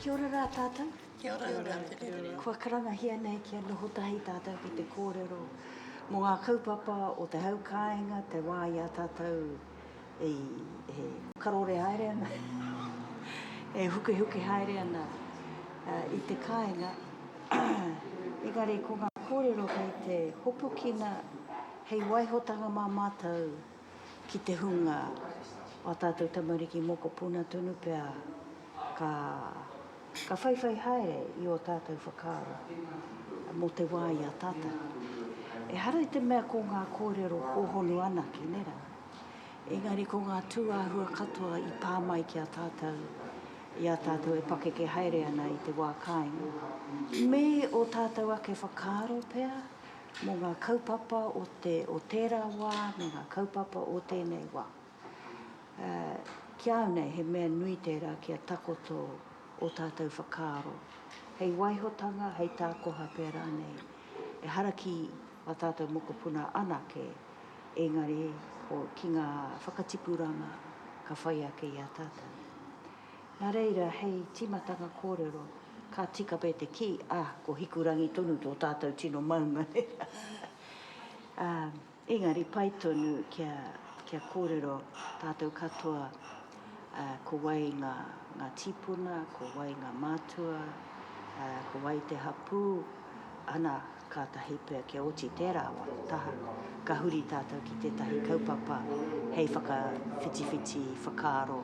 Kia ora rā tātou. Kia ora, kia ora, kia ora. Kua karangahia nei kia noho tahi tātou ki te kōrero mō ngā kaupapa o te hau kāinga, te wā i a tātou e, e karore haere ana, e hukihuki haere ana uh, i te kāinga. Engari, ko ngā kōrero kei te hopukina hei waihotanga mā mātou ki te hunga o tātou tamariki mokopuna tonu pea Ka, ka whaiwhai haere i ō tātou whakaaro mō te wā i a tātou. Ehara i te mea ko ngā kōrero hōhonu anake, nē rā? Engari ko ngā tūāhua katoa i pā mai ki a tātou, i a tātou e pakeke haere ana i te wā kāinga, me ō tātou ake whakaaro pea mō ngā kaupapa o te, o tērā wā me ngā kaupapa o tēnei wā. Ā, ki a au nei he mea nui tērā kia takoto ō tātou whakaaro, hei waihotanga, hei tākoha pea rānei. Ehara ki ā tātou mokopuna anake, engari ko, ki ngā whakatipuranga ka whai ake i a tātou. Nā reira, hei tīmatanga kōrero, ka tika pea te kī, ā, ko Hikurangi tonu tō tātou tino maunga. Ā. Engari pai tonu kia kōrero tātou katoa ko wai ngā tīpuna, ko wai ngā mātua, ko wai te hapū, ana, kātahi pea kia oti tērā wā taha, ka huri tātou ki tētahi kaupapa hei whakawhitiwhiti whakaaro,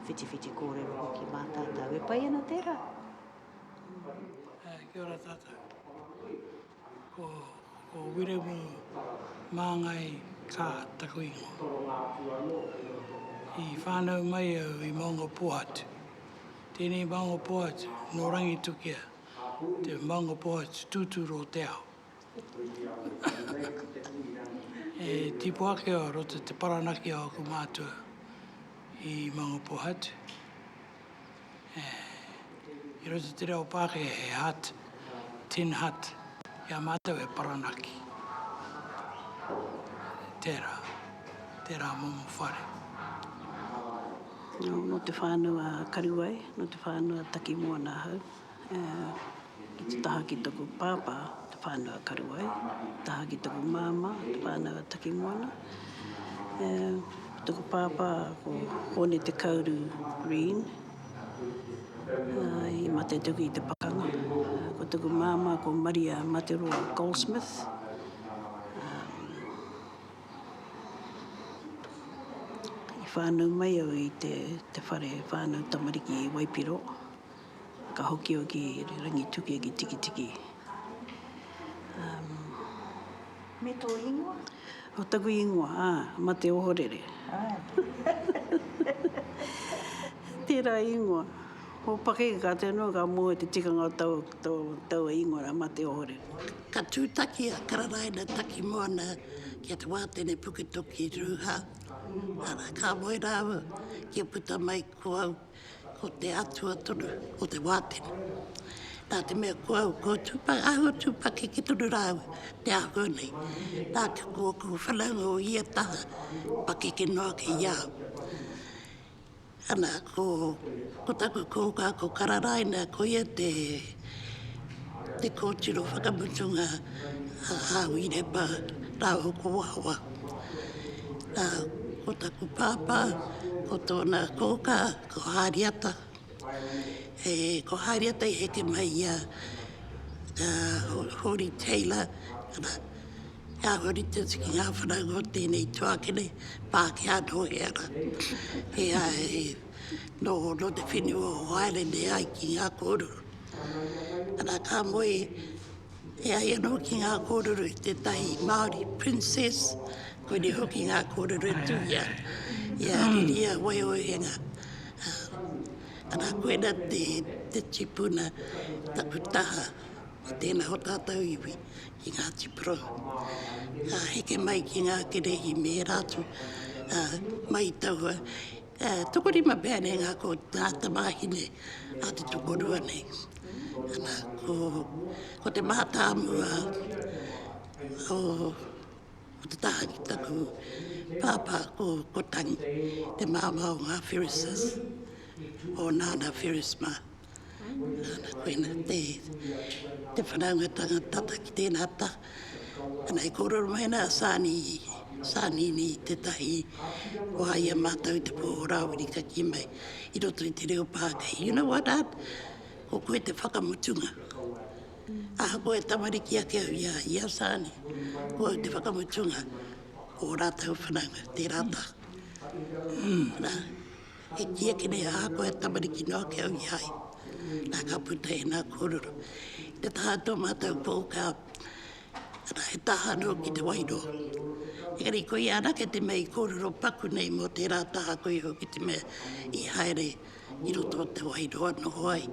whitiwhiti kōrero hoki mā tātou. E pai ana tērā! Kia ora tātou. Ko Ko Wiremu Māngai kā taku ingoa. I whānau mai au i Maungapohatu. Tēnei Maungapohatu nō Rangitukia, te Maungapohatu tūturu o te ao. E tipu ake au roto te paranaki o aku mātua i Maungapohatu. I roto i te reo Pākehā he hat, tin hat, i a mātou he paranaki. Tērā, tērā momo whare. Nō te whānau a Karuwai, nō te whānau a Takimoana ahau. Ki te taha ki toku pāpā, te whānau a Karuai, te taha ki toku māmā, te whānau a Takimoana. E, ko toku pāpā ko Hōne Te Kauru Reen, ā, i mate atu ki te pakanga. Ko toku māmā ko Maria Materoa Goldsmith, ā, i whānau mai au i te, te whare whānau tamariki i Waipiro. Ka hoki au ki Rangitukia ki Tikitiki. Me tō ingoa? Ko taku ingoa, ā, Mate Ohorere. Tērā ingoa. Ko Pakeke ka tū noa, ka moe te tikanga o taua ingoa rā, Mate Ohorere. Ka tūtaki a Kararaina Takimoana ki a Te Wātene Puketoki Ruha, arā, ka moe rāua kia puta mai ko au. Ko te atua tonu o te wātene. Nā te mea ko au, ko tupa, ahua tupa ki ki tonu rāu te ahua nei. Nā te ko aku whanaunga o ia taha, pakeke noa ke ia. Ana, ko, ko taku kōkā, ko Kararaina, ko ia te te kōtiro whakamutunga a Hāwireba rāua ko Wawa. Nā, ko taku pāpā, ko tōna kōkā, ko Hāriata. E, ko Hāriata i heke mai i a Hōri Taylor, arā, ka huri atu ki ngā whanaunga o tēnei tuakiri, Pākehā nō hea rā. He aha e. nō te whenua o Waerenei ai ki ngā kōrero. Ana, ka moe e ai anō ki ngā kōrero i tētahi Māori princess, koinei hoki ngā kōrero e tū i a, i a Riria Waiohenga. Ana, koina te, te tipuna taku taha i tēnā o tātou iwi ki Ngāti Pro. Ka heke mai ki ngā kerehi me ērā atu, mai taua E toko rima pea nei ngā ko tā tamāhine a te tokorua nei. Ana, ko, ko te mātāmua o, o te taha ki taku pāpā, ko, ko Tangi, te māmā o ngā Ferrises, o Nāna Ferris mā. Nana, koina te, te whanaungatanga tata ki tēnā ta. Ana, e kōrero mai ana a Sani, Sanini tētahi o a ia mātou te pō o Rāwiri ka kī mai, i roto i te reo Pākehā, you know what Art, ko koe te whakamutunga. Ahakoa e tamariki ake au i a, i a Sani, ko au te whakamutunga o ō rātou whanaunga, tērā ta. Nana. E kīia ki nei ahakoa he tamariki noa ki au i a ia, nā, ka puta e nā kōrero. I te taha tō mātou pōka, arā, he taha anō ki te wairua. Engari koia anake te mea i kōrero paku nei mō tērā taha koia hoki te mea i haere i roto o te wairua noho ai,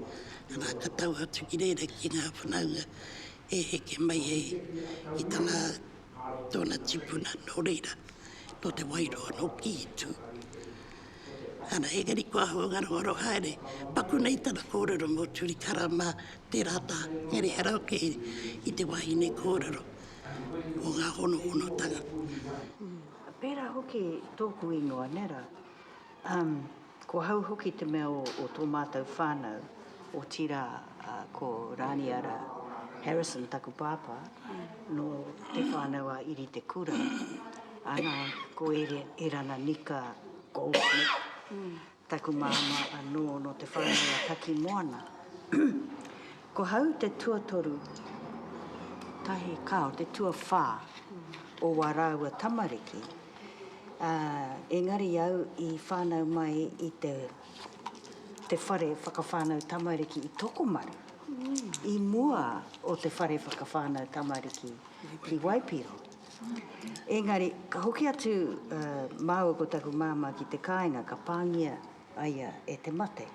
arā, ka tau atu ki reira ki ngā whanaunga e heke mai ai ki tana tōna tipuna nō reira, nō Te Wairoa, nō Kītu. Ana, engari kua hua ngarongaro haere, paku nei tana kōrero mō Turikara mā tērā tā Ngere Haraoke i te wāhine kōrero o ngā honohonotanga. Pērā hoki tōku ingoa, nē rā? Umm, ko hau hoki te mea o tō mātou whānau, otirā ko Rāniara Harrison taku pāpā, nō te whānau a Iri Te Kura, ana, ko Erana Nika Goldsmith taku māmā anō nō te whānau a Takimoana. Ko hau te tuatoru, tahi kao te tuawha o wa raua tamariki, a, engari au i whanau mai i te, te whare whakawhanau tamariki i Tokomaru, i mua o te whare whakawhanau tamariki i Waipiro. Engari, ka hoki atu, a, maua ko taku mama ki te kainga ka pangia aia e te mate.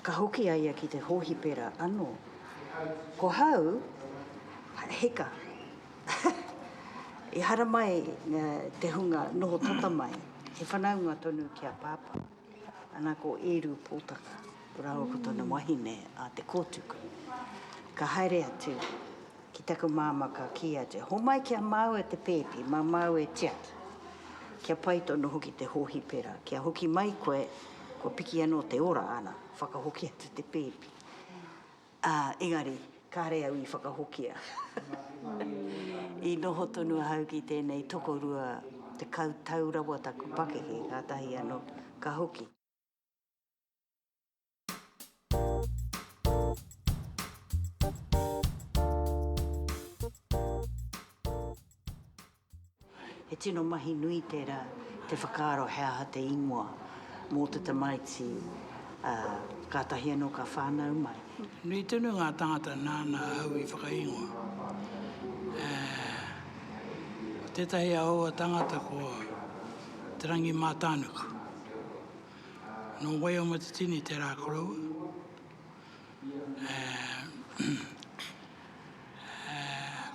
Ka hoki a ia ki te hōhipera anō. Ko hau, hika. I haramai te hunga noho tata mai, he whanaunga tonu ki a Pāpā. Ana ko Ērū Pōtaka rāua ko tana wahine a Te Kōtuku. Ka haere atu. Ki taku māmā ka kī atu, Homai ki a māu e te pēpi, mā māu e tiaki. Kia pai tonu hoki te hōhipera, kia hoki mai koe, kua piki anō te ora ana, whakahoki atu te pēpi. Ā, engari, kāre au i whakahokia. I noho tonu ahau ki tēnei tokorua tekau tau rawa taku pakeke, kātahi anō ka hoki. He tino mahi nui tērā te whakaaro he aha te ingoa mō te tamaiti, ā, kātahi anō ka whānau mai. Nui tonu ngā tāngata nāna ahau i whakaingoa. Ā, ko tētahi aua tāngata ko Te Rangi Mātānuku. Nō Waiamatutini te rā koroua,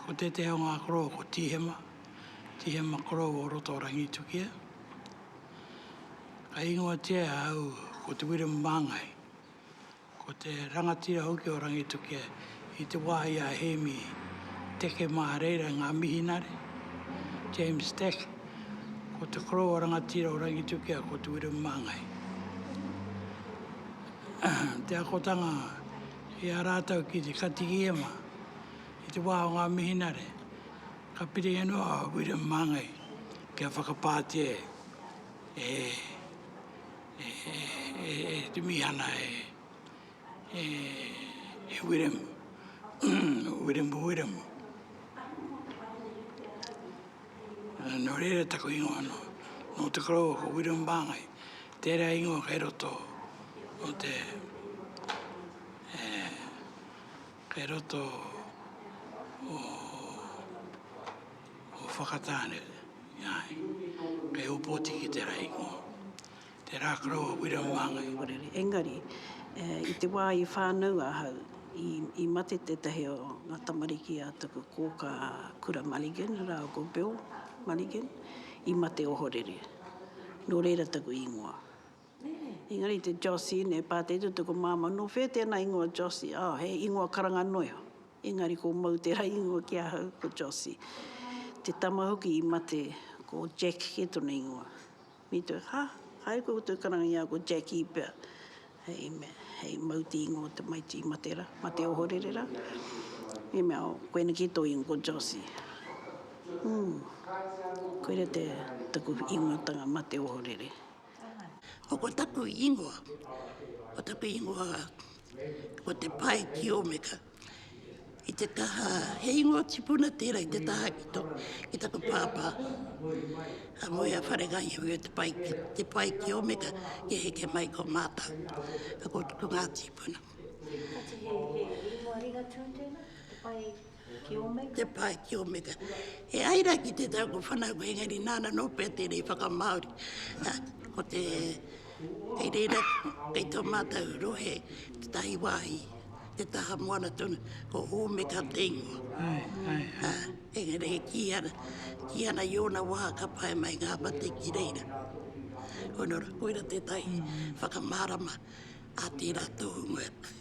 ko tētehi o ngā koroua ko Tīhema, Tīhema koroua o roto o Rangitukia. Ka ingoatia e a au ko Te Wiremu Māngai, Ko te rangatira hoki o Rangitukia i te wā i a Hēmi Teke mā reira ngā mihinare, James Stack, ko te koroua rangatira o Rangitukia ko Te Wiremu Māngai. Te akotanga i a rātou ki te Katikīhema i te wā o ngā mihinare, ka piringia noa a Wiremu Māngai kia whakapātia e e te mihana e Wiremu, Wiremu Wiremu. Nō reira taku ingoa anō, nō Te Koroua ko Wiremu Māngai, tērā ingoa kei roto o te, kei roto o, Ko Whakatāne, āe, kei Ōpoti ki te rahi ngō. Te rā karo a Wira Māngai. Orere, engari, i te wā i whānau ahau, i, i mate tētahi o ngā tamariki a taku kōkā a Kura Mulligan rāua ko Bill Mulligan, i mate ohorere. Nō reira taku īngoa. Engari te Jossie, nei pātai tū taku māmā, nō whea tēnā īngoa Jossie? Oh, he īngoa karanga noiho. Engari ko Mou te rahi ingoa ki ahau, ko Jossie. Te tama hoki i mate, ko Jack ke tona ingoa. Me toi, ha, haere koe ko tou karangiaoa ko Jackie pea. Hei mea, hei Mou te ingoa o tamaiti i mate ra, mate ohorere ra. Me mea, oh, koena ke tou ingoa, ko Jossie. Hum, koira te, taku ingoatanga mate ohorere. Ko taku ingoa, ko taku ingoa ko te pae ki Omeka. I te taha, he ingoa tipuna tērā i te taha ki to, ki taku pāpā. Ka moe a Wharegai au e te pae ki, te pae ki Omeka, ki heke mai ko mātau. Ko, ko ngā tipuna. He, he, he ingoa ringatū tēnā, te pae? Ki Omega. Te pae ki Omega. E ai ra ki te tau ko whanau engari nana no pea te rei whakamaori. Ko te kei reira, kei to matou rohe, te tahi wahi, te taha moana tonu, ko Omega te ingoa. Ai, ai, ai. Engari e ki ana, ki ana i ona waha ka pae mai nga mate ki reira. Koinora, koira te tai whakamarama a tera tohunga.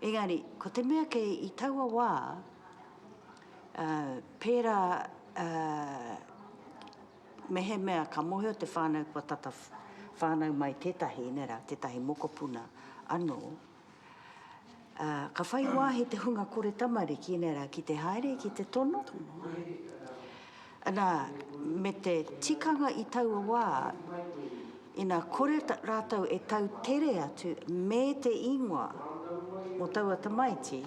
Engari, ko te mea kei i taua wā, ā, pērā, ā, mehemea ka mōhio te whānau kua tata whānau mai tētahi, nei rā, tētahi mokopuna anō, ā, ka whai wāhi te hunga kore tamariki, nei rā, ki te haere, ki te tono. Ana, me te tikanga i taua wā, ina kore rātou e tau tere atu me te ingoa o taua tamaiti,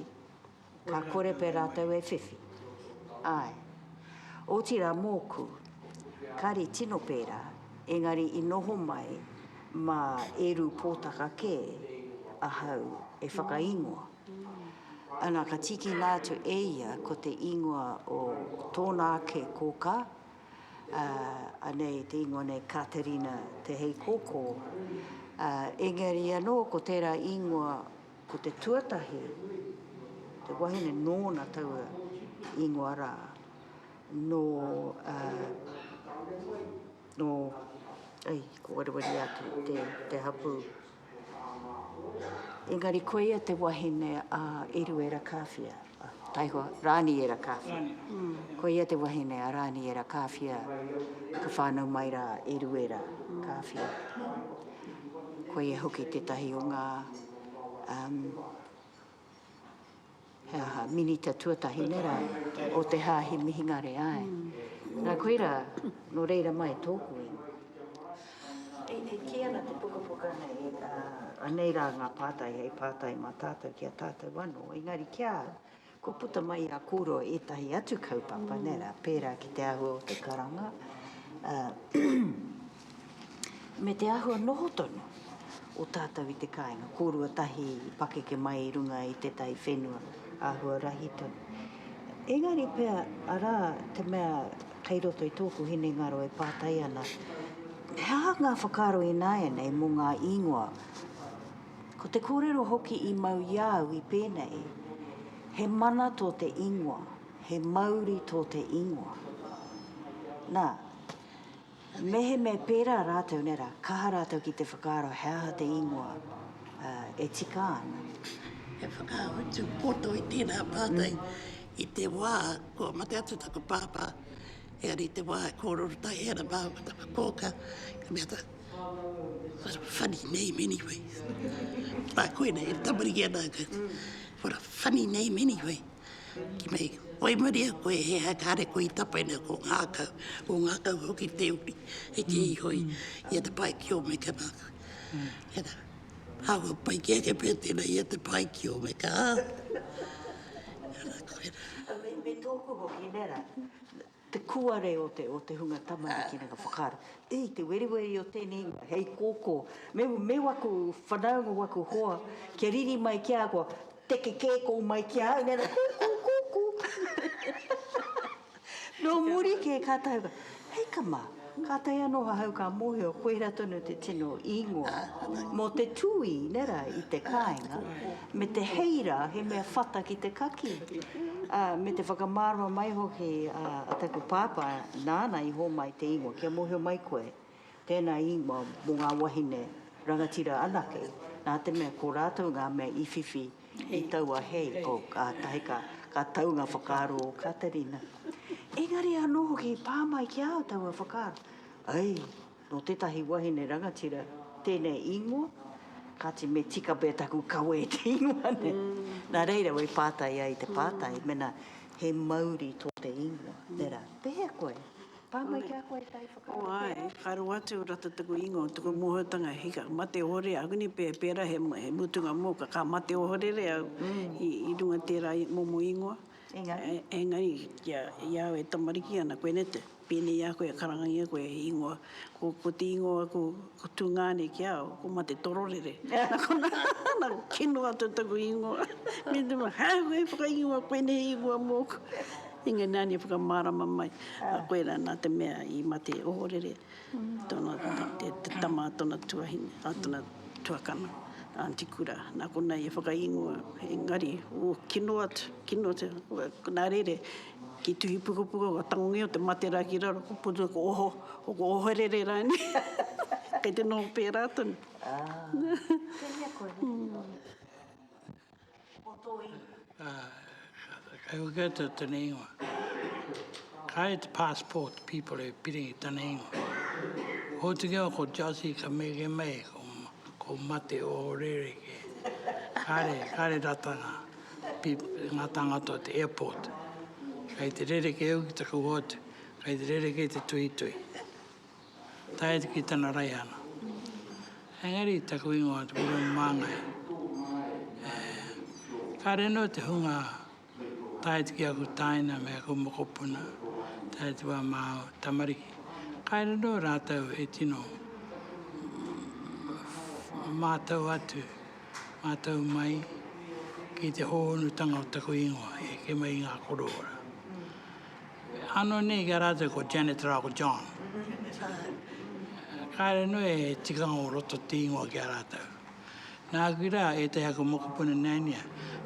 ka kore pea rātou e whiwhi. Āe. Otirā mōku, kāre tino pērā, engari i noho mai mā Eru Pōtaka kē ahau e whakaingoa. Ana, ka tīkina atu e ia ko te ingoa o tōna ake kōkā, ā, anei te ingoa nei Katerina Te Heikōkō, ā, engari anō ko tērā ingoa ko te tuatahi, te wahine nōna taua ingoa rā, nō, ā, nō, ai, ko Waruwaru atu te, te hapū. Engari koia te wahine a Eruera Kāwhia, taihoa, Rāniera Kāwhia. Koia te wahine a Rāniera Kāwhia ka whānau mai rā e Ruera Kāwhia. Koia hoki tētahi o ngā, umm. he aha, minita tuatahi nei rā, o te Hāhi Mihingare, āe. Nā, koirā, nō reira mai tōku ingoa. E, e kī ana te pukapuka nei, ā, anei rā ngā pātai hei pātai mā tātou ki a tātou anō, engari ki a au, kua puta mai i a kōrua ētahi atu kaupapa, nē rā, pērā ki te āhua o te karanga, ā, me te āhua noho tonu o tātou i te kāinga, kōrua tahi i pakeke mai i runga i te taiwhenua, āhua rahi tonu. Engari pea, arā te mea kei roto i tōku hinengaro e pātai ana, he aha ngā whakaaro ināianei mō ngā īngoa? Ko te kōrero hoki i mau i a au i pēnei, he mana tō te īngoa, he mauri tō te īngoa. Nā. Mehemea pērā rātou, nē rā, kaha rātou ki te whakaaro he aha te ingoa e tika ana. He whakautu poto i tērā pātai i te wā kua mate atu taku pāpā, engari i te wā e kōrero tahi ana māua ko taku kōkā, ka mea taku What a funny name anyway. Nā koinei e tamariki ana, What a funny name anyway. Ki nei, whai muri a koe he aha kāre koe i tapaina ko ngākau, ko ngākau hoki te uri, he kī iho ia te paikio me ka ngākau. Tēnā, aua pai ki ake pea tēnā ia te paikio me ka ngākau. Tēnā koe rā. Me tōku hoki, nē rā. Te kuare o te, o te hunga tamariki nanga whakaaro. E, te weriweri o tēnei ingoa, hei kōkō. Me, me waku whanau, me waku hoa, kia riri mai ki a koa, teke kē kou mai ki a au, nē rā, kūkū, kūkū. Nō muri kē ka tae au ka, hei ka mā. Kātahi anō ahau ka mōhio koirā tonu te tino īngoa mō te tūī, nera, i te kāinga, me te hei rā, he mea whata ki te kakī, ā, me te whakamārama mai hoki a taku pāpā nāna i hōmai te īngoa, kia mōhio mai koe, tēnā īngoa mō ngā wahine rangatira anake, nā te mea ko rātou ngā mea i whiwhi. I taua hei, oh, kātahi ka, ka tau ngā whakaaro o Katerina. Engari anō hoki i pā mai ki a au taua whakaaro. Ai, nō tētahi wahine rangatira tēnei īngoa, kāti me tika pea taku kawe i te īngoa nei. Nā reira, wai pātai ai te pātai, mēnā he mauri tō te īngoa, tērā, pēhea koe? Pā mai ki a koe tai whakaaro pērā. Oai, ka roa atu o rata taku ingoa o taku mohoutanga, hi ka mate ohore a Agni pea, pera he mutunga moka, ka mate ohorere au i runga tera momo ingoa. Engari. Engari, i au e tamariki ana koe, nete? Penei a koe e karangangia koe he ingoa, ko te ingoa aku Ko Tungane ki a au, ko Mate Tororere. Na kona, na kino atu taku ingoa. Me te ma, hau koe whakaingoa koe nei ingoa moku. Inga nani whakamarama mai. A koe ra na te mea i Mate Ohorere, tona te tama a tona tuahine, a tona tuakana, Aunty Kura. Na kona i whakaingoa, engari, o kino atu, kino atu, na rere, Ki tuhi pukapuka ko tangi o te matera ki raro ko puta ko oho ko ko oherere rainei kei te noho pera tonu. Kehea koe hoki no te o to iwi. Kei go get it tana ingoa. Kai te passport people e piri tana ingoa. Hotuki au ko Jossie ka mege mei ko mate oherere ke. Kare kare ratanga. Nga tangata o te airport kei te rereke au ki taku hoatu kei te rereke i te tuhituhi tae atu ki tana raihana engari taku ingoa ko William Mangai kare no te hunga tae atu ki aku taina me aku mokopuna tae atu a Mao tamariki kare no ratou e tino matau atu mātau mai ki te hōhonutanga o taku ingoa, e heke mai i ngā korowera. Ano nei ki a rātou ko Janet rā ko John. Kāre noa e tikanga o roto te ingoa ki a rātou. Nāku rā, e te aku mokopuna neania,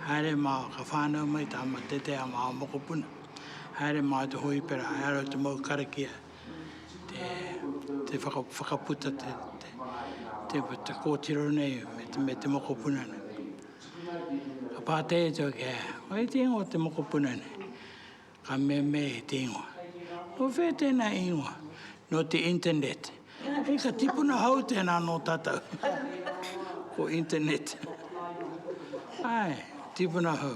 haere mā ka whānau mai tā matetea mā mokopuna, haere mā te hōipera, haere o te mau karakia, te whakaputa, te kōtiro nei me te mokopuna nei. Ka pātai atu au, wai te ingoa o te mokopuna nei? Ka mea me te ingoa. Nō whea tēnā ingoa? Nō te internet. Hei ka tipuna hou tēnā nō tātou. Ko internet. Ai, tipuna hou.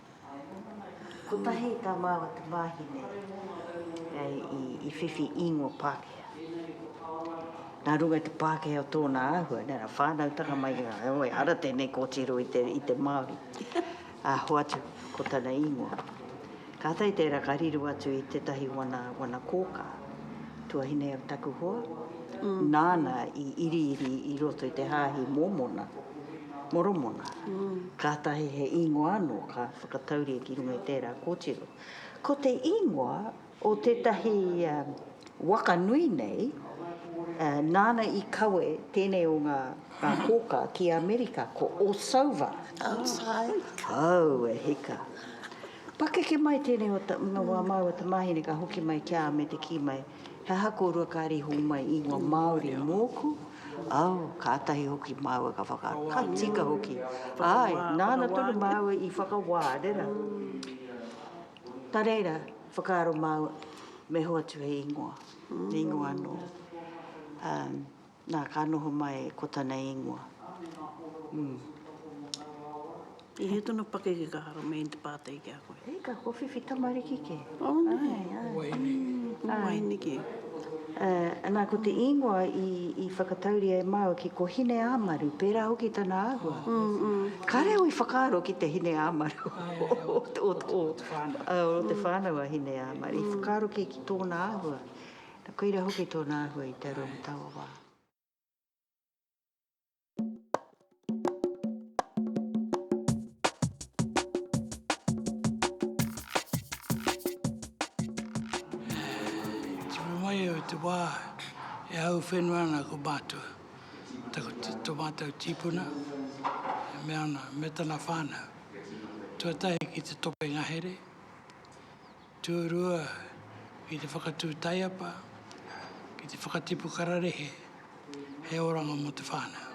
Kotahi tā māua te wāhine i whiwhi īngoa Pākehā. Nā runga i te Pākehā o tōna āhua, nā runga whānautanga mai i ngā wai, ara tēnei kōtiro i te Māori, ā, hoatu ko tana īngoa. Kātahi tērā ka riro atu i tētahi wana kōkā, tuahine o taku hoa, nāna i iriiri i roto i te Hāhi Mōmona. Moromona, kātahi he īngoa anō ka whakatauria ki runga i tērā kōtiro. Ko te īngoa o tētahi waka nui nei, nāna i kawe tēnei o ngā kōkā ki Amerika, ko Osova. Aue hika! Pakeke mai tēnei o ngā māua tamāhine ka hoki mai ki a me te kī mai, He aha kōrua ka rīho mai ingoa Māori mōku? Au, kātahi hoki māua ka whakaaro, ka tika hoki. Āe, nāna tonu māua i whakawā, rera. Nā reira, whakaaro māua, me hoa atu he ingoa, he ingoa anō. Na, ka noho mai ko tana ingoa. He he tono pakeke ka hara mai i te patai ki a koe. Hei ka ko whiwhi tamariki ke. Oh nei. Ko waini. Ko waini ke. Na, ko te ingoa i whakatauria e maua ki ko Hine-ā-maru, pera hoki tana ahua. Kare au i whakaaro ki te Hine-ā-maru o te whanau a Hine-ā-maru. I whakaaro ki tona ahua. Na koira hoki tona ahua i te aroa mo taua wa. I tipu mai au i te wā e hau whenua ana ko mātou, tō mātou tīpuna, e mea ana, me tana whānau, tuatahi ki te tope ngahere, Tūrua ki te whakatū taiapa, ki te whakatipu kararehe he oranga mō te whānau.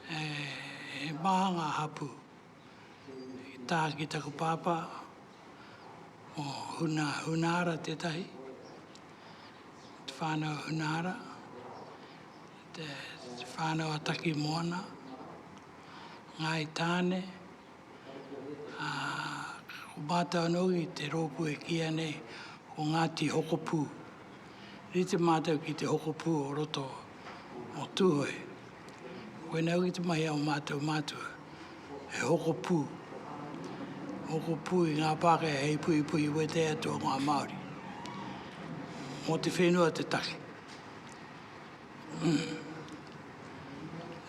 He maha ngā hapū i taha ki taku pāpā, mō Huna Hunahara tētahi, te whānau Hunahara, te whānau a Takimoana, Ngāi Tāne, Ā, ko mātou anō i te rōpū e kīia nei ko Ngāti Hokopū. Rite mātou ki te hokopū o roto o Tūhoe. Koinei hoki te mahi a ō mātou mātua, he hokopū. Hokopū i ngā Pākehā hei puhipuhi wete atu o ngā Māori. Mō te whenua te take.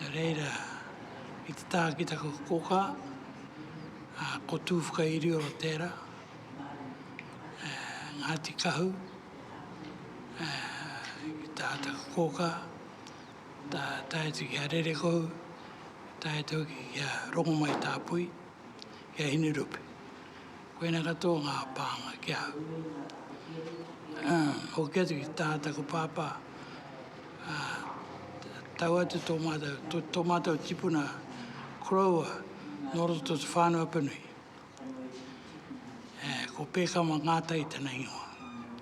Nā reira, ki te taha ki taku kōkā, ko Tūwhakairio tērā, Ngāti Kahu, ki taha taku kōkā, tae atu ki a Rerekohu, tae atu hoki ki a Rongomaitāpui, ki a Hinerupe. Koina katoa ngā pānga ki ahau. Ā, hoki atu ki te taha taku pāpā, ā, tau atu tō mātou, tō, tō mātou tipuna Crowe nō roto o Te Whānau-a-Panui. E, ko Pēkama Ngātai tana ingoa.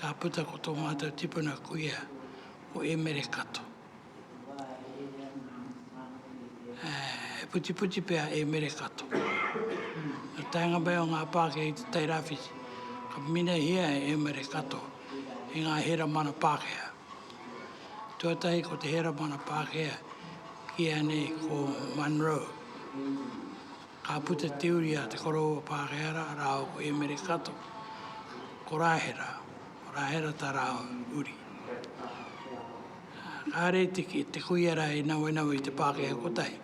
Ka puta ko tō mātou tipuna kuia, ko Emere Kato. He putiputi pea a Emere Kato. Nā te taenga mai o ngā Pākehā i Te Tai Rāwhiti, ka minahia e Emere Kato i ngā heramana Pākehā. Tuatahi ko te heramana Pākehā ki ēnei ko Munro. Ka puta te uri a te koroua Pākehara rāua ko Emere Kato, ko Rāhera, ko Rāhera tā rāua uri. Kāre te, te kuia rā i nawenawe i te Pākehā kotahi.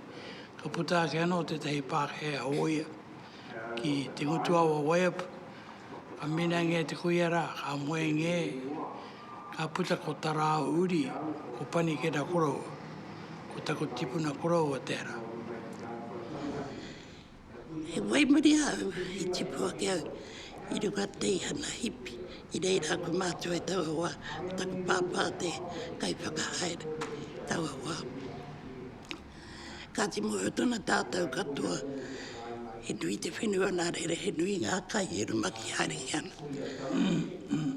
Ka puta ake anō tētahi Pākehā hōia ki te ngutuawa Waiapu. Ka minangia te kuia rā, ka moengia e. Ka puta ko Tarao Uri, ko Panikera Koroua, ko taku tipuna koroua tera. He waimuri au, he tipu ake au i runga teihana hipi, i reira ko matou e taua wa, ko taku papa te kai whakahaere, taua wa. Kāti mōhio tonu tātou katoa, he nui te whenua nā reira, he nui ngā kai e rumaki haerengia ana. Mm, mm.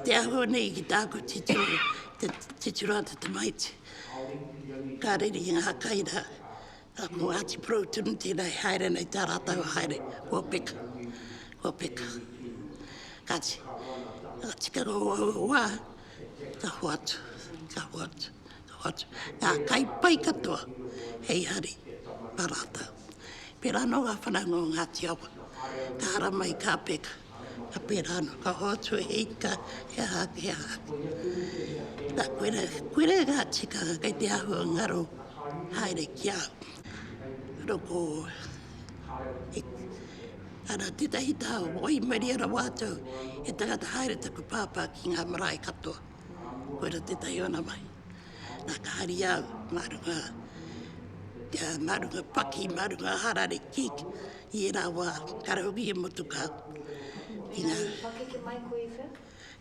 Te ahua nei ki tāku titiro, te titiro a te tamaiti. Ka rere i ngā kai rā, ka ko Āti Pro tunu tēnā e haere nei tā rātou haere, kua peka, kua peka. Kāti, ka tika ngā wā, ka hoatu, ka hoatu. Ngā kai pai katoa hei hari mā rātou. Pērā anō ngā whanaunga o Ngāti Awa, ka ara mai, ka peka, ka pērā anō, ka hoatu e ika, he aha ake, he aha ake. Nā, koira, koira e ngā tikanga kei te āhua ngaro haere ki a au. Nō ko, he, ana tētahi taha o Waimarie rawa atu, he tangata haere taku pāpā ki ngā marae katoa. Koira tētahi o ana mahi. Nā ka hari au mā runga, kia mā runga paki, mā runga harare kik, i ērā wā, kare hoki he motukā. Ki ngā... He pakeke mai koe i whea?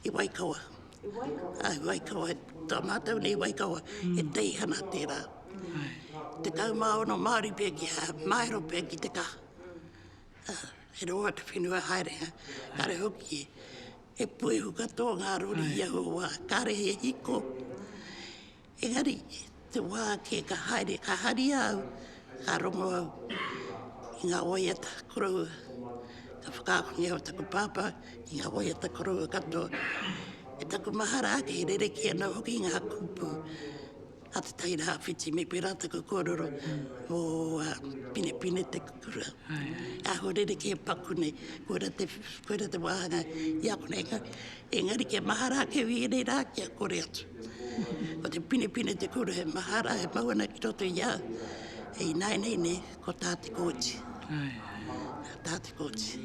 I Waikawa. I Waikawa? Āe, i Waikawa. Tō mātou nei i Waikawa, he teihana tērā. Tekau mā ono Māori pea ki hā, māero pea ki te kaha. ā, e rua atu whenua haerenga, kāre hoki e puehu katoa ngā rori i aua wā, kāre he hiko. Engari, te wā kē ka haere, ka haria au, ka rongo au i ngā waiata koroua, ka whakaahua au i taku pāpā ki ngā waiata koroua katoa. Me taku mahara ake, e rerekē ana hoki ngā kupu. a Te Tai Rāwhiti me pērā taku kōrero mō a Pinepine Te Kukura, aho rerekē paku nei, koira te, koira te wāhanga i a konei, engari kia mahara ake au i ēnei rā kia kore atu. Ko te Pinepine Te Kukura he mahara e mau ana ki roto i a au, e ināinei nei ko tā Te Kooti. Ai. Tā Te Kooti.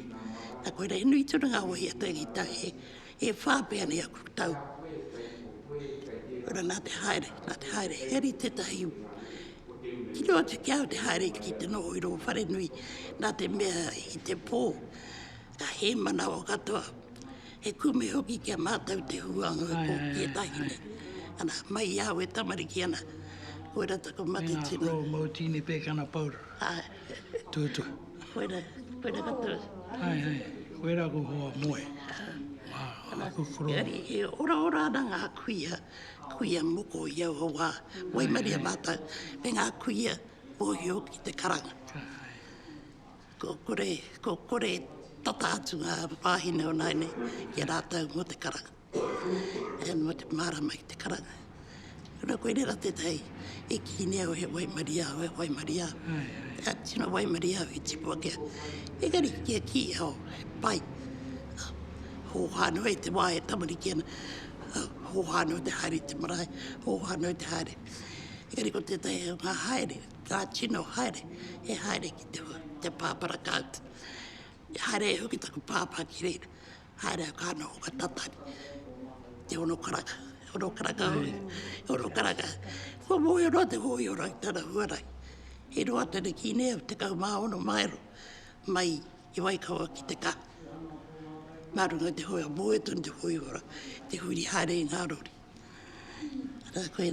Na koira he nui tonu ngā wāhi a Te Aitā e, E whā pea nei aku tau. Ora nā te haere, nā te haere, he ari tētahi u. Tino atu ki au te haere ki te noho i rō whare nui, nā te mea i te pō, ka hē manawa katoa, he kume hoki ki a mātou te huanga o kō ki ētahi nei. Ana, mai i au e tamariki ana, koira taku mate tino. Nā, ko Mōtīni Pēkana Paura, tūtū. Koe ra, koe ra katoa. Hai, hai, koe ra ko hoa moe. Ana, engari e ora ora ana nga kuia, kuia moko i aua wa, waimaria matou, me nga kuia mohio ki te karanga. Ko kore, ko kore tata atu nga wahine o nai nei ki a ratou mo te karanga. e noa te mārama ki te karanga. Kura koe rera tētahi i kīne au he waimarie au, he waimarie au. Ka tino waimarie au i tipu ake au. Engari, kia kī au, he pai. Hōhā noa i te wā e tamariki ana. Hōhā noa te haere i te marae, hōhā noa te haere. Engari ko tētahi o ngā haere, ngā tino haere, he haere ki te pāpara kāuta. He haere e hoki taku pāpā ki reira. Haere a Kāne o Watatari, te hono karaka, te hono karaka hoki, te hono karaka. Kua mōhio noa te hōiho rau i tana huarahi. He roa atu ana ki nēa, tekau mā ono maero mai i Waikawa ki te kaha. Nā runga te hoi a mōhio tonu te hōiho rau, te huri haere i ngā rori. Ara koe.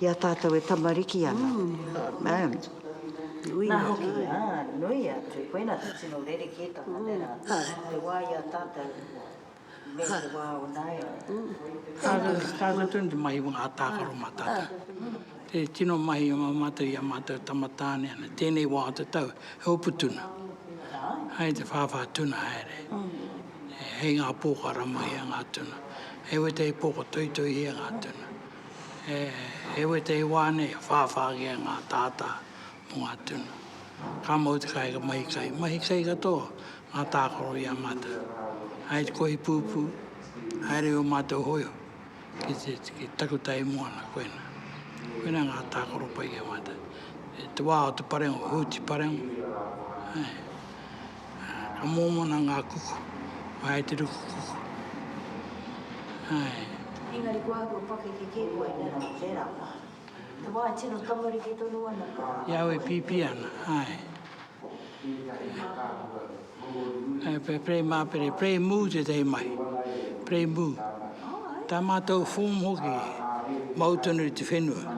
I a tātou e tamariki ana. Amen. Nui Nā hoki, ā, nui atu, koinā te tino rerekētanga tērā, te wā i a tātou me te wā o nāianei. Tātou tonu te mahi o ngā tākaro mā tātou. Te tino mahi mā mātou i a mātou tama tāne ana, tēnei wā o te tau, he hopu tuna. Hai te whāwhā tuna haere. Hei ngā pōkara mahia ngā tuna. Hei wetei pōko toitoihia ngā tuna. He wetei wā nei e whāwhāngia ngā tātā mō ngā tuna. Ka mau te kāinga mahi kai, mahi kai katoa ngā tākaro i a mātou. Hai te kohi pūpū, haere ō mātou hōiho ki te takutai moana, koinā. Koinā ngā tākaro pai ki a mātou. Te wā o te parengo, Hūti Parengo. Ka mōmona ngā kuku, ka hae te ruku kuku. Ae. Engari kua āhua pakeke kē koe nera, nera wā. Te wā e tino tamariki tonu ana ka. I au e pīpī ana, ae. Ae, pea play māpere, play mu tētahi mahi. Play mu. Tā mātou form hoki, mau tonu i te whenua.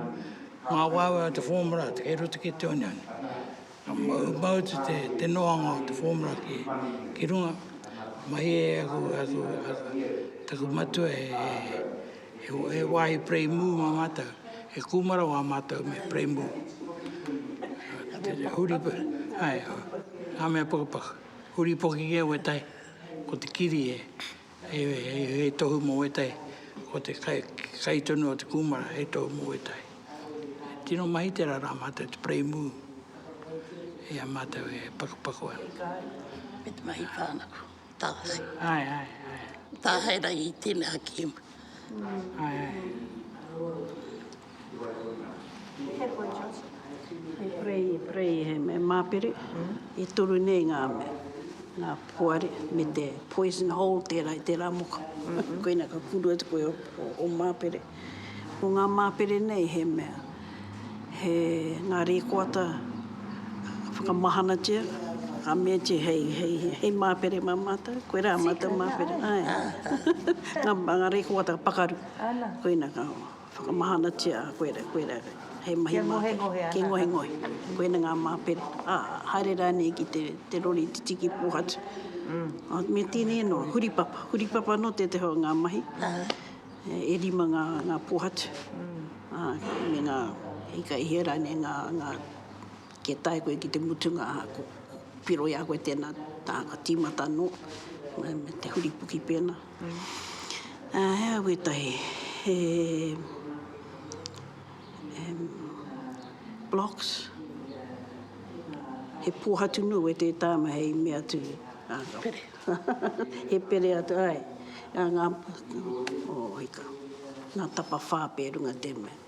Ngā waewae o te form rā, kei roto ki te oneone. Ka mau, mau atu te, te noanga o te formula ki, ki runga. Mahi e aku, aku, taku matua he, he, he wāhi preimu mā mātou. He kūmara wā mātou me preimu. Huri, ai, ngā mea pukapuka. Huri poki kē wētahi, ko te kiri e, Hei tohu mō ētahi, ko te kai tonu o te kūmara, hei tohu mō ētahi. Tino mahi tērā rā mātou te parei mū, i a mātou e pakupaku ana. Hei kāre, me te mahi whānako, tāhae. Ae, ae, ae. Tāhae rangi, tēnā kēmu. Ae, ae. E prei, e prei, he mea māpere, e toru nei ngā mea, ngā poari me te poison hole tērā i tērā moka. Koina ka kuru atu koe o māpere. Ko ngā māpere nei he mea, he ngā rēkoata ka whakamahanatia, ka meatia hei, hei, hei māpere mā mātou, koe rā mātou māpere. Āe. Ngā rēkoata pakaru. Koina ka. Whakamahanatia a koe rā, koe rā, hei mahi māpere. Kia ngohengohe ana. Kia ngohengohe. Koina ngā māpere. Ā, haere rānei ki te, te rori titi ki Pōhatu. Ā, me tēnei anō, huripapa. Huripapa anō tētahi o ngā mahi. E rima ngā, ngā Pōhatu. Ā, me ngā, i ka hea rānei ngā, ngā Kia tae koe ki te mutunga, ko piro i a koe tēnā tāngata, tīmata anō, me te huripuki pēnā. Ā, he aha wētahi, he, em, blocks, he pōhatu nui wētahi tāma hei mea atu, ā, ka. Pere. He pere atu, āe, ā, ngā, o, hika, ngā tapawhā pē runga tēnei.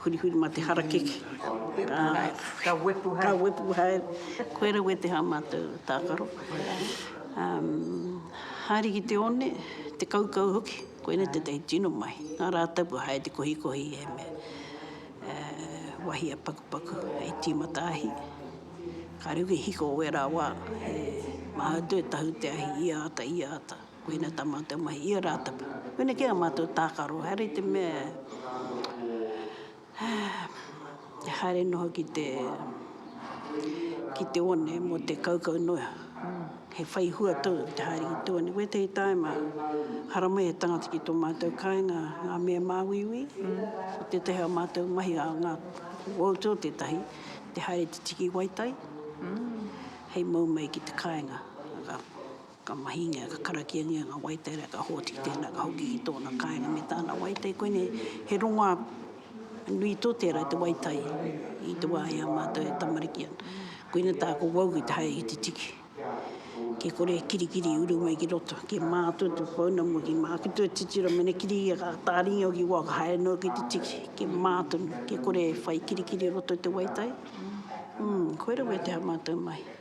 Hurihuri ma te harakeke. Ka wepu hai. Ka wepu hai. Koe ra wete ha matou takaro. Haere ki te one, te kaukau hoki. Koinei tetahi tino mahi. Nga ratapu hai te kohikohi e me wahi a pakupaku hei timata ahi. Kare hoki hiko o wera wa he maha atu e tahu te ahi i ata, i ata. Koina tā mātou mahi, i a rātou. Koina kē ā mātou tākaro, haere i te mea e haere noa ki te, ki te one mō te kaukau noa. He whai hua tō te haere ki te one. Ko ētahi tāima, haramai he tangata ki tō mātou kāinga, ngā mea māuiui, ko tētahi ā mātou mahi, ā ngā wōu tō tētahi, te haere te tiki waitai, hei mau mai ki te kāinga. Ka mahingia, ka karakiangia ngā waetai rā, ka hōtiki tēnā, ka hoki ki tōna kāinga me tāna waetai. Koinei, he rongoā nui tō tērā te waetai i te wā i a mātou e tamariki ana. Koina tāku wau ki te haere ki te tiki. Kia kore e kirikiri i uru mai ki roto, kia mātua tō pounamu, kia māku tō titiro, mena kiri ia ka tāringi au ki waho, ka haere noa ki te tiki. Kia mā tonu, kia kore e whai kirikiri i roto i te waetai. Umm, koirā wēteha mātou mahi.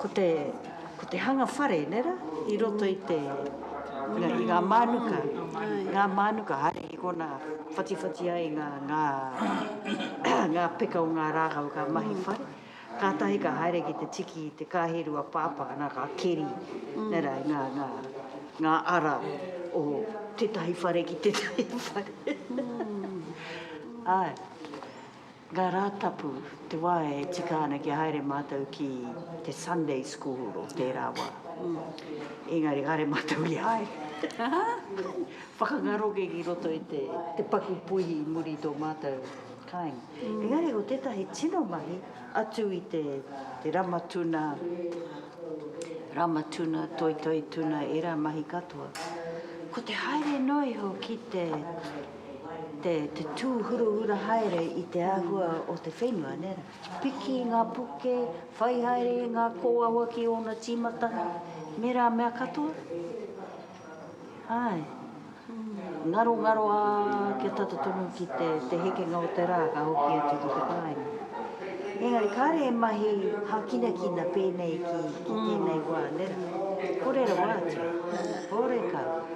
Ko te, ko te hanga whare, nē rā, i roto i te, nga, i ngā mānuka, ngā mānuka haere ki kona whatiwhati ai ngā, ngā, ngā peka o ngā rākau ka mahi whare, kātahi ka haere ki te tiki i te kāhiru a Pāpā, nā, ka keri, nē rā, i ngā, ngā, ngā ara o tētahi whare ki tētahi whare. Āe. Ngā Rātapu, te wā e tika ana kia haere mātou ki te Sunday School o tērā wā. Engari, kāre mātou i haere. Whakangaro kē ki roto i te paku puihi i muri i tō mātou kāinga. Engari, ko tētahi tino mahi, atu i te rama tuna, rama tuna, toitoi tuna, ērā mahi katoa, ko te haere noa iho ki te. te tūhurahura haere i te āhua o te whenua, nē rā. Piki i ngā puke, whai haere i ngā kōawa ki ōna tīmatanga, me rā mea katoa. Āe, ngarongaro, ā, kia tata tonu ki te hekenga o te rā ka hoki atu ki te kāinga. Engari kāre e mahi hākinakina pēnei ki tēnei wā, nē rā. Kore rawa atu, kore kau.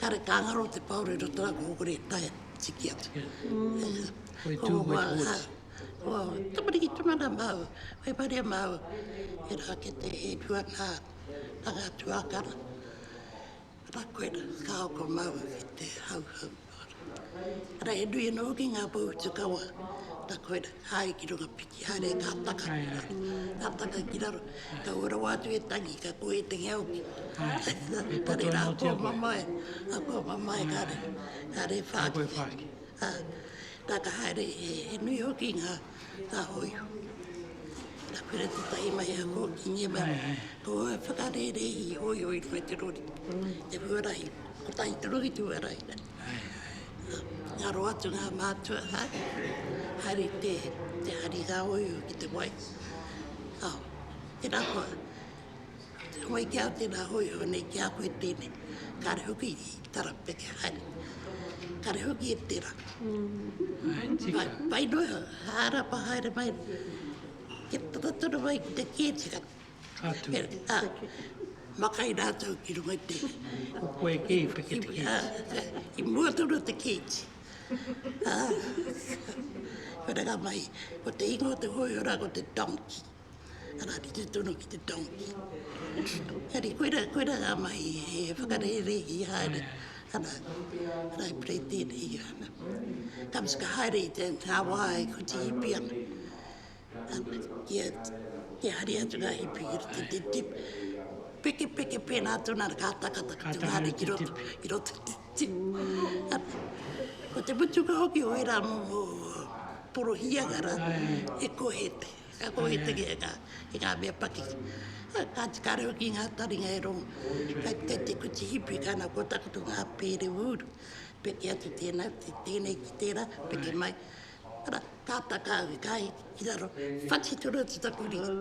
Kare ka ngaro te paore ro tara ko kore kai tiki atu. Koe tu koe koe. Tamariki tuna na mau. Koe pare mau. E ra ke te e tu ana. Tanga tu a kara. Ra koe na ka ko mau ki te hau hau. Ra e nui no ki nga po tu kawa. Ta koe na. haere ki runga piki, haere ka taka ki raro, ka taka ki raro, ka ua rawa atu e tangi, ka kō e te ngea hoki. Kare rā, kō mamae, kō mamae, kare, kare e whāki. Tā ka haere, he nui hoki ngā, ngā hōiho. Ka pera te tahi mai a kō ki ngia mai, kō e whakarērē i hōiho i runga te rori, te huarahi, kotahi te rori te huarahi. Ngaro atu ngā mātua, haere te hari rāoiu ki te wai. Tēnā koa, wai ki au tēnā hoi hone ki a koe tēnei. Kāre hoki i tarapeke haere, kāre hoki e tērā. Pai noa iho, hārapa haere mai, kia tata tonu mai ki te kētira. Ka tū. Ā, makai rātou ki runga i te. Ko koe kē i peke te kīti. Ā, i mua tonu o te kīti. Ā, wharekarā mai, ko te ingoa o te hōihora ko te donkey. Arā, rite tonu ki te donkey. Engari, koirā, koirā rā mai e whakarērehi haere ana. Arā, e pai tēnei ana. Ka haere i te ngā wā e kuti hipi ana. Te hari atu rā he piki te tipu. Piki piki pēnā atu nā ka takata ki te wāhi ki roto ki roto ki te tipu. Ko te mutunga hoki o ērā momo porohīanga rā he kohete. Ka kohete ki ngā mea paki. Kāti ka rau ki ngā taringa e rongō. Kai te kai te kuti hipi kāna kua takoto ngā pēre ūru. Piki atu tēnā, tēnei ki tērā, piki mai. ara, pāpā kāhui, kāhi ki raro, whati tonu atu taku ringa,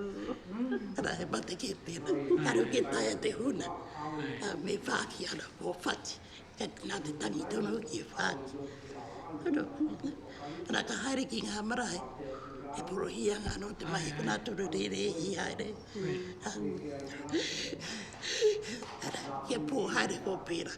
ara, he mate kē tēnā, karu kē taea te huna, a, me whāki ana kō whati, kei te nā te tangi tonu hoki e whāki. Ara, ara, ka haere ki ngā marae, e porohia ngā anō te mahi, ko nā tonu rērē hi haere, ara, kia pō haere kō pērā.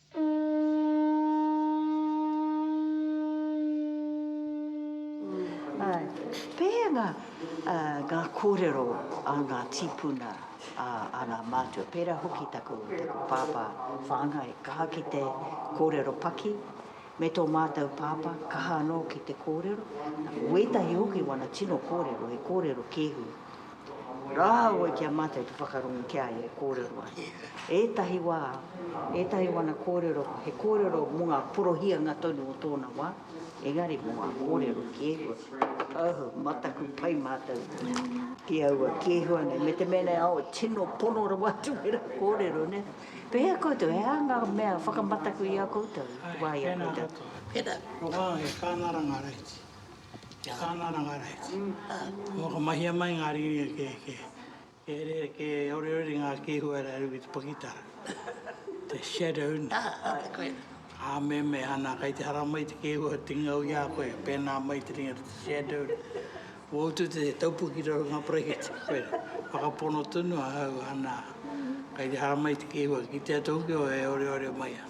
Pēhea ngā kōrero a ngā tīpuna, a ngā mātua, pērā hoki taku pāpā whāngai, kaha ki te kōrero paki, me tō mātou pāpā, kaha anō ki te kōrero. Wētahi hoki wana tino kōrero, he kōrero kēhu. Rāua ki a mātou te whakarongo ki a ia e kōrero ana. Ētahi wā, ētahi o ana kōrero he kōrero mō ngā porohianga tonu o tōna wā, engari mō ngā kōrero ki e hua, oh, mataku pai mātou ki aua, ki e hua nei, me te mea nei, oh, tino pono rawa atu ērā kōrero, nē? Pēhea koutou, he aha ngā mea whakamataku i a koutou, wā i a koutou? Pērā, he kāngaranga reiti. Kia kāna ana ngā rahi. Ka whakamahia mai ngā rīringa kē, kē, kē rere, kē oreore ngā kēhua rā rū ki te pakitara. Te shadow nā. Aha, te koena. Ā, me, me, ana, kai te hara mai te kēhua te ngau i a koe, pēnā mai te ringa te shadow. Wō utu te taupu ki raro ngā parakete, koera. Whakapono tonu ahau, ana, kai te hara mai te kēhua, kitea tō ki o e oreore mai ana.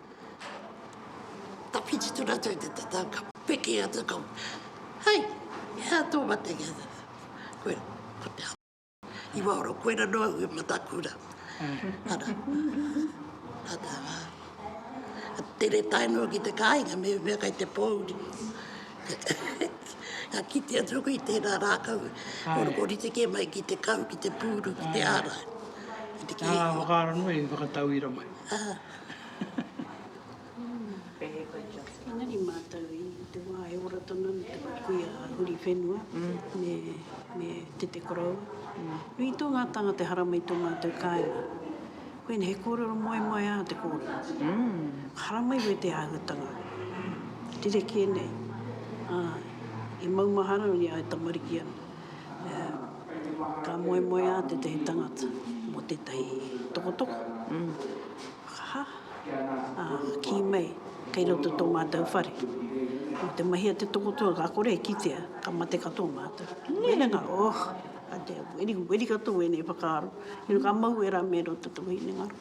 Ka whiti tonu atu i te tatau, ka peke atu, ka, Hei! He aha tō matenga? He aha tō matenga? Koera, ko te ao. I waho rā, koera noa au e Matakura. Ana, ana, ka tere tae noa ki te kāinga, me mea kai te pōuri. Ka kite atu aku i tērā rākau, ko rite kē mai ki te kau, ki te pūru, ki te ārai. Ki te kēkua. Ā, whakaara noa i whakatauira mai. Ā. Engari mātou i te wā e ora tonu ana te kuia a Huriwhenua me Tete Koroua, nui tō ngā tāngata e harama i tō mātou kāinga. Koinei he kōrero moemoeā te kōrero. Ka haramai koe i te āhuatanga rerekē nei, ā, e maumahara ana i a au e tamariki ana. Ka moemoeā tētahi tangata mō tētahi tokotoko, whakaha, ā, ka kī mai, kei roto tō mātou whare. Nō te mahi a te tokotoko, ka kore e kitea, ka mate katoa mātou. Hinengaro, oh, a te weri, weri katoa wēnei whakaaro. Ka mau wērā me roto taku hinengaro.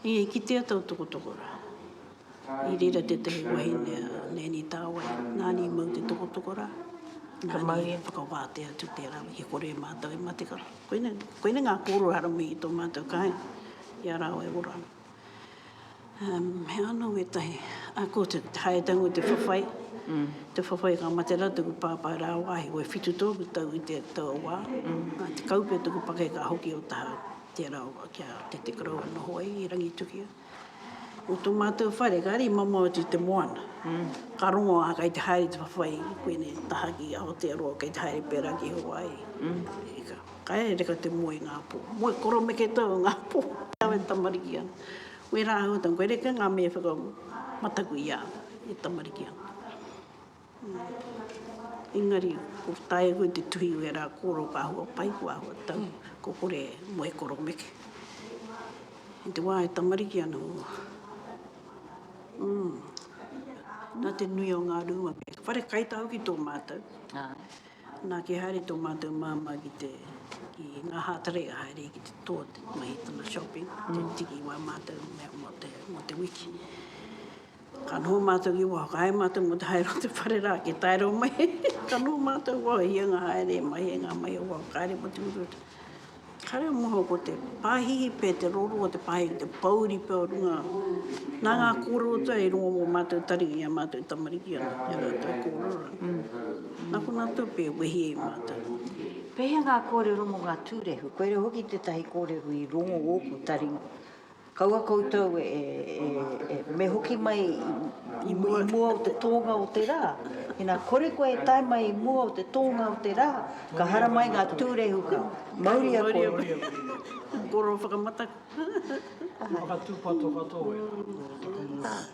I kitea tau tokotoko rā. I reira tētahi wahine a Nanny Tāwai, nāna i mau te tokotoko rā, nāna i whakawātea atu tērā i kore e mātau e mate kara. Koinei, koinei ngā kōrero haramai i tō mātau kāinga, i a rāua e ora ana. Um, he anō ētahi, a ko te haetangu te whawhai, mm. te whawhai ka mate rā tuku pāpā rāwāhi, o e whitu tōku tau i te tau wā, mm. te kaupe tuku pake ka hoki o tahau, tērā o kia te te karau noho ai i Rangitukia. Ko tō mātou whare ka rima mau atu i te moana. Ka rongo a, kei te haere te whawhai i koinei taha ki Aotearoa, kei te haere pērā ki Hawaii. Ka haere ka te moe i ngā pō. Moe koromeke tau i ngā pō. Au e tamariki ana. Wērā āhuatanga, koe reka ngā mea e whakamataku i a au e tamariki ana. Engari, ko tae koe te tuhi i ērā kōrero ka hua pai koe āhua tau, ko kore moe koromeke. I te wā e tamariki ana mua, umm, nā te nui o ngā rūma pea, whare kai tāu ki tō mātou, nā kia haere tō mātou māmā ki te, ki ngā hātare e haere ki te tō te mahi tana shopping, te tiki i wā mātou mea mō te, mō te wiki. Ka noho mātou ki waho, ka haere mātou mō te haere o te whare rā ki Tairau mai. Ka noho mātou waho, hia ngā haere e mahia ngā mahi o waho, ka haere mō te uruutu. Kāre au moho ko te pāhihi pea, te rōrua o te pāhihi, te pōuri pea o runga. Nā ngā kōrero tua i rongo mō mātou tari i a mātou tamariki ana, i a rātou kōrero rā. Nā konā tōpē e wehi ai mātou. Pēhea ngā kōrero mō ngā tūrehu? Koirā hoki tētahi kōrero i rongo ōku tari Kaua koutou e, e, e, me hoki mai i, i mua, i mua o te tōnga o te rā. Ina kore koe e tae mai i mua o te tōnga o te rā, ka hara mai ngā tūrehuka. Mauria koe. Mauria koe. Koro whakamata. Whakatūpato katoa e.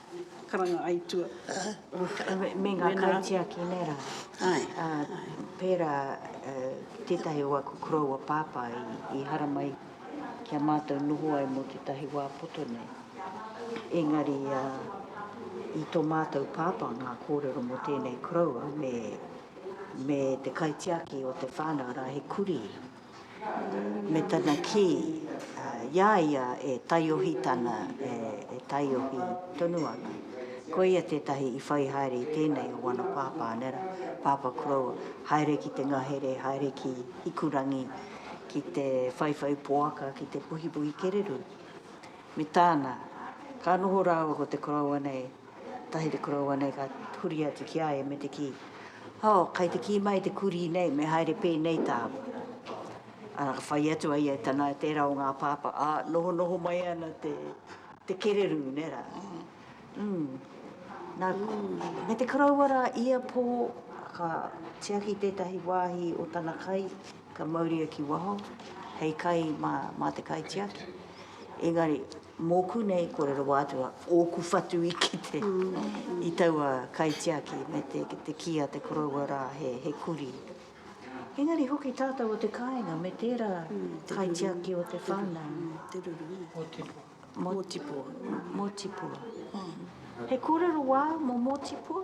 karanga aitua. Me nga kaitiaki ne ra. Pera tetahi o aku koroua papa i haramai ki a matou noho ai mo tetahi wa poto nei. Engari i to matou papa nga korero mo tenei koroua me te kaitiaki o te whanau ra he kuri. me tana kī, i a ia e taiohi tana, e taiohi tonu ana. Koia tētahi i whai haere i tēnei o wana pāpā nera, Pāpā Crow, haere ki te ngahere, haere ki Hikurangi, ki te whaiwhai poaka, ki te puhipuhi kererū. Me tāna, ka noho rāua ko te koroua nei, tahi te koroua nei ka huri atu ki a ia me te kī, Oh, kai te kī mai te kurī nei me haere pēnei tāua. Arā, ka whai atu a ia e tana, e tērā o ngā pāpā, ā, nohonoho mai ana te, te kererū, nē rā. Mm. Nā, me te koroua rā ia pō, ka tiaki tētahi wāhi o tana kai, ka mauria ki waho, hei kai mā, mā te kaitiaki. Engari, Mōku nei kōrero wā atu a ōku whatu i kite i taua kaitiaki me te kī a te koroua rā he kurī. Engari hoki tātou o te kāinga me tērā kaitiaki o te whānau. Te ruru. Mōtipua. Mōtipua. He kōrero wā mō Mōtipua?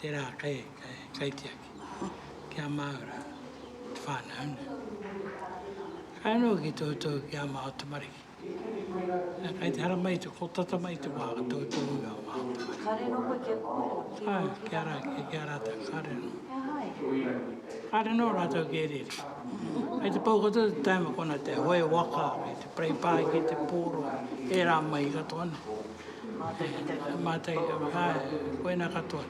Tērā kei, kei, kaitiaki, ki a Māura, te whānau, nē. Ka noho ki Tautohu ki a Māo tamariki. Nā, kei te hara mai te, ko tata mai te wā ka Tautohu i a Māo tamariki. Ka riro koe kia kōrero ki ō tū tamariki? Āe, ki a rā, ki, ki a rātou, ka riro noa. He aha e te reo i te reo? Ka riro noa rātou ki Eriri. Kei te pau katoa te taima kona te hoe waka, kei te parei pāiki te pōro, ērā mahi katoa nā. Mātei, āe, koinā katoa.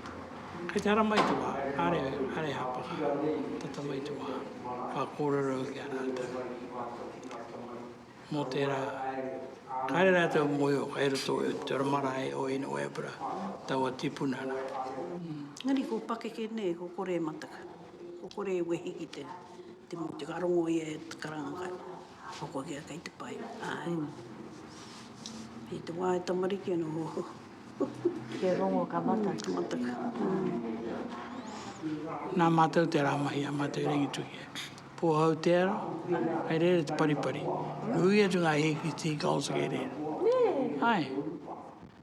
Kei te haramai te wā, kāre, kāre hāpaka, tata mai te wā, ka kōrero ki a rātou mō tērā, kāre rātou mōhio kei roto i te oranga marae o Inoebra, taua tipuna nā. Engari ko pakeke nei, ko kore e mataka, ko kore e wehi ki te, te mōtika, ka rongo ia e te karanga kai. Ko Kokea kei te pai. Ae. I te wa e tamariki ana oho. Kia rongo ka mata. Ka mata ka. Na matou te ra mahi a matou i Rangitukia. Pohau te ara, kei reira te paripari. Nui atu nga hiki, tea gulls kei reira. Ae.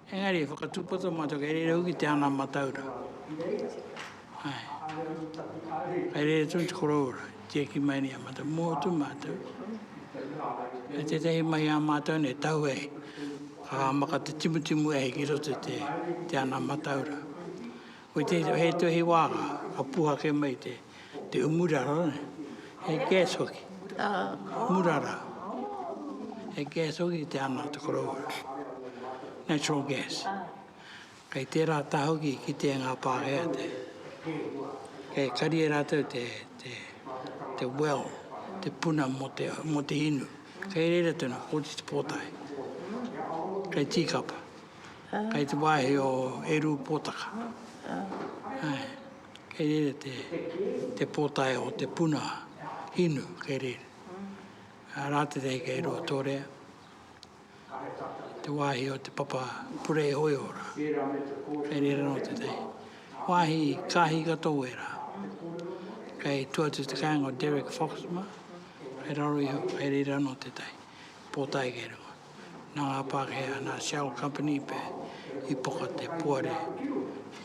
Engari, whakatūpato mātou kei reira hoki te ana mataura. Kei reira tonu te koroura, tieki mai nei a mātou, mō atu mātou. Kei tētahi mahi a mātou nei, tau e, ka maka te timutimu e hiki roto te ana mataura. Ko te he tuhi wānga ka puhake mai te te umurara nei. He gas hoki. Ā. Umurara. He gas hoki te ana te koroua. Natural gas. Ā. Kei tērā taha hoki ki te ngā Pākehā te kei kari e rātou te te te well, te puna mō te mō te inu. Kei reira tonu, ko te pōtae. Kei tīkapa. Kei te wāhi o Eru Pōtaka. Kei reira te pōtae o te puna hinu, kei reira. Rātete kei Ruatorea, te wāhi o te papa purei hoiora. Kei reira nō tētahi wāhi kāhi katoa wērā. Kei tua atu te kāinga o Derek Foxmer, kei raro iho, kei reira nō tētahi pōtae kei runga. Nā ngā Pākehā, nā Shell Company pea i poka te poari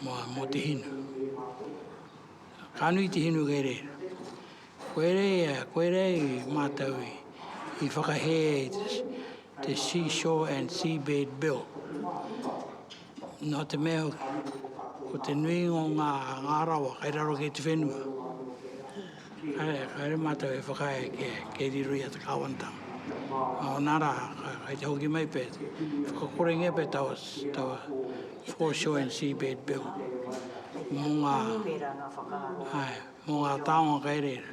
mō te hinu. Ka nui te hinu kei reira. Koe rei, koe rei mātou i whakahē te Seashore and Seabed Bill. Nā te mea hoki, ko te nuinga o ngā ngārawa kei raro ki te whenua, haere mātou e whakaae kia kei riro i a te kāwanatanga. Nā ōna rā, kei te hoki mai pea, whakakorengia pea taua taua foreshore and seabed bill mō ngā, āe, mō ngā taonga kei reira.